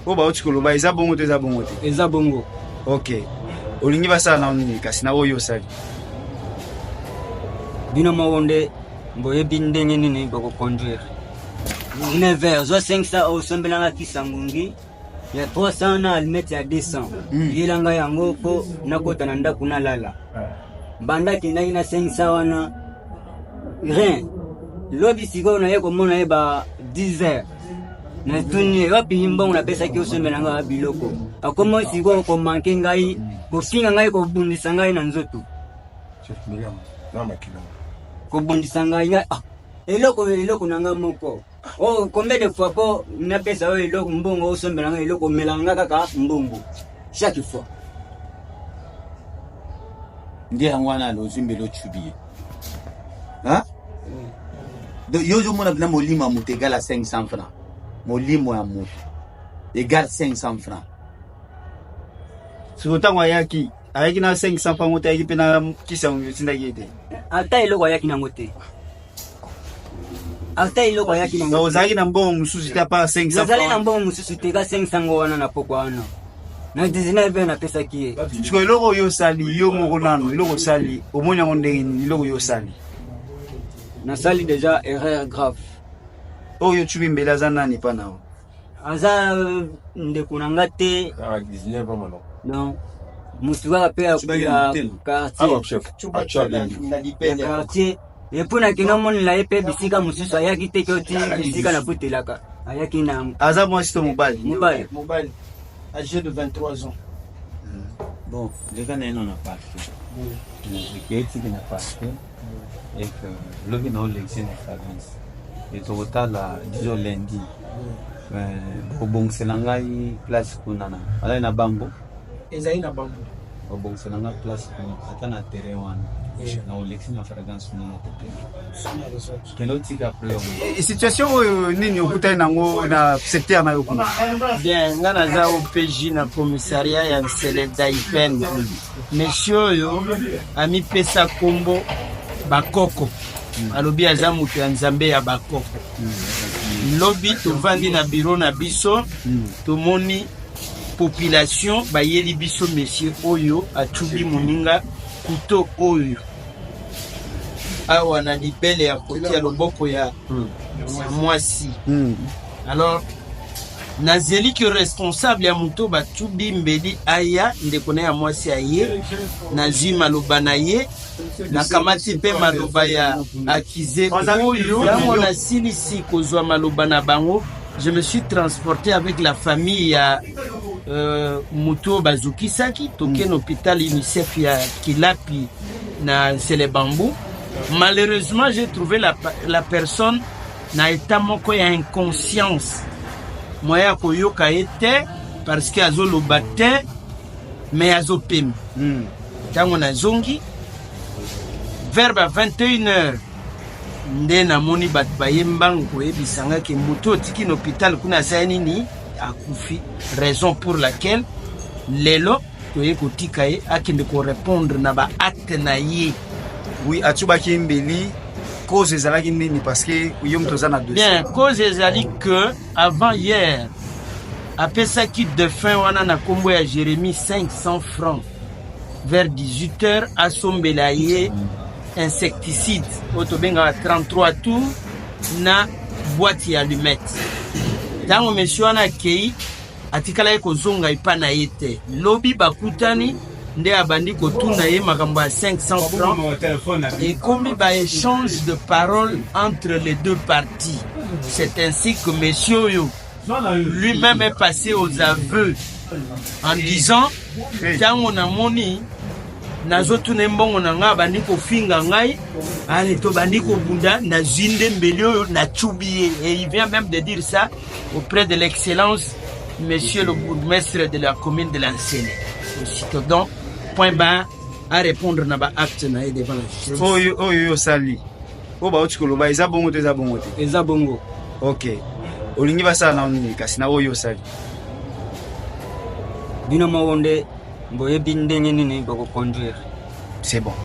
oyo bauti koloba eza bongo to eza bongo te eza bongo ok olingi basala na nini kasi na oyo osali bino moko nde boyebi ndenge nini bakoconduire 9 heures zwa 5 sa osombelanga kisa ngungi ya 300 na almete ya 200 hmm. yelanga yango mpo nakota na ndako nalala banda akendaki na 5 sa wana rien lobi sikoyo naye komona ye ba 10 heures natuni ye wapi mbongo napesaki osombela ngai biloko akoma sikoyo komanke ngai kofinga ngai kobundisa ngai na nzoto kobundisa ngai ngai ah, eloko eloko na ngai moko Oh, combien de fois po napesa yo eloko mbongo osombela nga eloko omelaka nga kaka mbongo chaque fois nde yango wana alozi mbele ocubi ye yo ozomona mpena molimo ya moto egala 500 franc molimo ya moto egale 500 franc siko ntango ayaki ayaki na 500 mpango te ayaki mpe na kisa otindaki ye te ata eloko ayaki nango te ata eloko ayaki nango ozalaki na mbongo mosusu te apa 500 nazali na mbongo mosusu te ka 500 ngo wana na pokwa wana na 19 heure napesaki ye siko eloko oyo osali yo moko nano eloko osali omoni yango ndenge nini eloko oyo osali nasali deja erreur grave oyo ocubi mbele aza nani epa na yo aza euh, ndeko na nga te non motu kaka mpe ya quartier epo nakende omonela ye mpe bisika mosusu ayaki te koti bisika nakotelaka ayaki na aza mwasi to mobali mobali mobali age de 23 ans hmm. bon leka na ye nona parke ekeyetiki na parke eke lobi na olekisi na province etokotala dijo lundi obongisela ngai place kuna na alai na bango ezali na bango babongisa na nga place ata na terrain wana na olekisi na fragrance kuna na kote kende otika preo eh, situation oyo nini okutani nango na secteur na yo kuna bien nga naza opg na commissariat ya nsele daipen monsieur oyo amipesa nkombo bakoko alobi aza moto ya nzambe ya bakoko lobi tovandi na biro na biso tomoni population bayeli biso monsieur oyo acubi moninga kuto oyo awa na libele ya koti ya loboko ya hmm. mwasi hmm. alors nazeli ke responsable ya moto bacubi mbeli aya ndeko na ya mwasi aye nazwi maloba na ye nakamati mpe maloba ya akize oyo ntango nasilisi kozwa maloba na bango Je me suis transporte avec la famille ya euh, moto oyo bazokisaki toke na hôpital unicef ya kilapi na nsele bambu malheureusement j'ai trouvé la, la personne na etat moko ya inconscience moya ya koyoka ye te parce que azoloba te mais azopema ntango nazongi vers ba 21 heures nde namoni bato baye mbangu koyebisa nga ke moto otiki na hôpital kuna aza nini akufi raison pour laquelle lelo toye kotika ye akende korépondre na baacte na ye oui atubaki mbeli cause ezalaki nini parce que yo moto oza na bien cause ezali que avant hier apesaki défunt wana na nkombo ya jérémie 500 francs vers 18 heures asombela ye mm. insecticide oyo tobengaka 33 tour na bwati ya lumete ntango mesio wana akei atikalaki kozonga epa na ye te lobi bakutani nde abandi kotuna ye makambo ya 500 francs ekomi baéchange de parole entre les deux parties c'est ainsi que monsieur oyo lui-même est passé aux aveux en disant ntango namoni nazotuna ye mbongo na ngai abandi kofinga ngai ale tobandi kobunda nazwi nde mbeli oyo nacubi ye et il vient même de dire ça auprès de l'excellence monsieur le bourgmestre de la commune de lansele aussitôt donc point bar à répondre na baacte na ye devant la justice oyo oyo osali oyo bauti koloba eza bongo to eza bongo te eza bongo ok olingi basala na nini kasi na oyo osali bino moko nde boyebi ndenge nini bokoconduire c'est bon